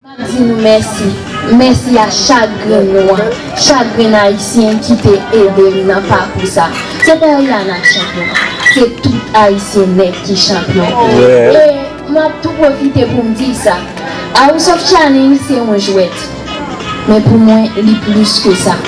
Map di nou mèsi, mèsi a chak grenn nou an, chak grenn ayisyen ki te ede m nan pakou sa. Se pa Eliana k chanpyon, se tout ayisyen nèt ki chanpyon. E map tou pwofite pou m di sa, House of Challenge se yon jwèt, men pou mwen li plis ke sa.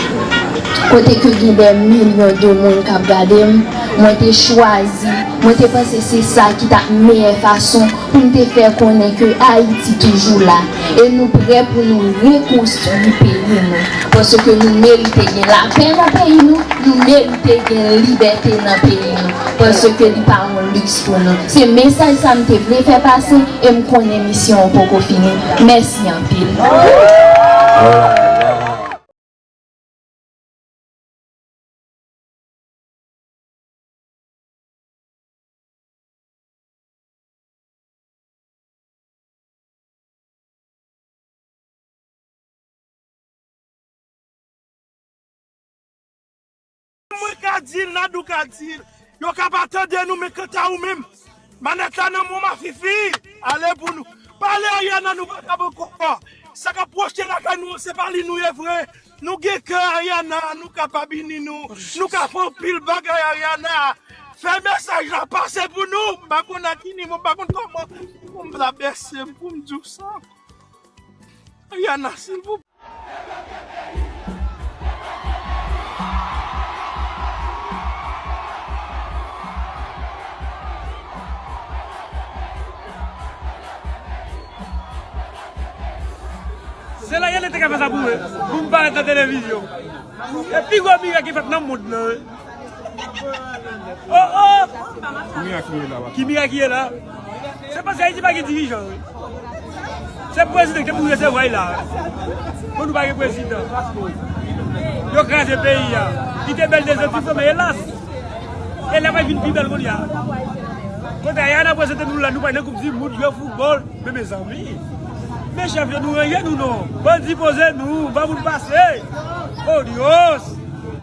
Kote ke gen dè milyon de moun kap gade m, mwen te chwazi, mwen te panse se sa ki tap meyè fason pou n te fè konnen ke Ayiti toujou la e nou prè pou nou rekonstwi peyi nou, paske nou merite gen lapè nan peyi nou, nou merite gen libète nan peyi nou, paske li pa yon liks pou nou. Se mesaj sa m te vle fè pase e m konnen misyon an poko fini. Mèsi anpil. Mwen ka dil, Nadou ka dil, yo ka pa tande nou men kanta ou menm, manèt la nan menw ma fifi, ale pou nou pale Ariana nou pa kab ankò, sa kap pwoche lakay nou an se pa li nou ye vre, Nou gen kè Ariana nou kapab ini nou nou ka fè anpil bagay Ariana fè mesaj la pase pou nou m pa konn a ki nivo m pa konn kòman poum ta bese m poum diw sa Ariana silvouplè. Se la Yandé te ka fè sa pou mwen, pou m parèt nan televizyon. Se pi gwo mirak ki fèt nan mond lan. O o! Ki mirak ki ye la? Se paske Ayiti pa gen dirijan. Se prezidan ki te pou resevwa l la. Pou nou pa gen prezidan. Yo kraze peyi a. Li te bèl de zòt ki fò men elas! Ella pral vin pi bèl kounye a. Kote Ayana prezante nou la nou pa nan koup di mond yo foutbòl men mezanmi. Men chèf yo nou ranyen nou non. Bandi poze nou, ban moun pase. Oh Dios!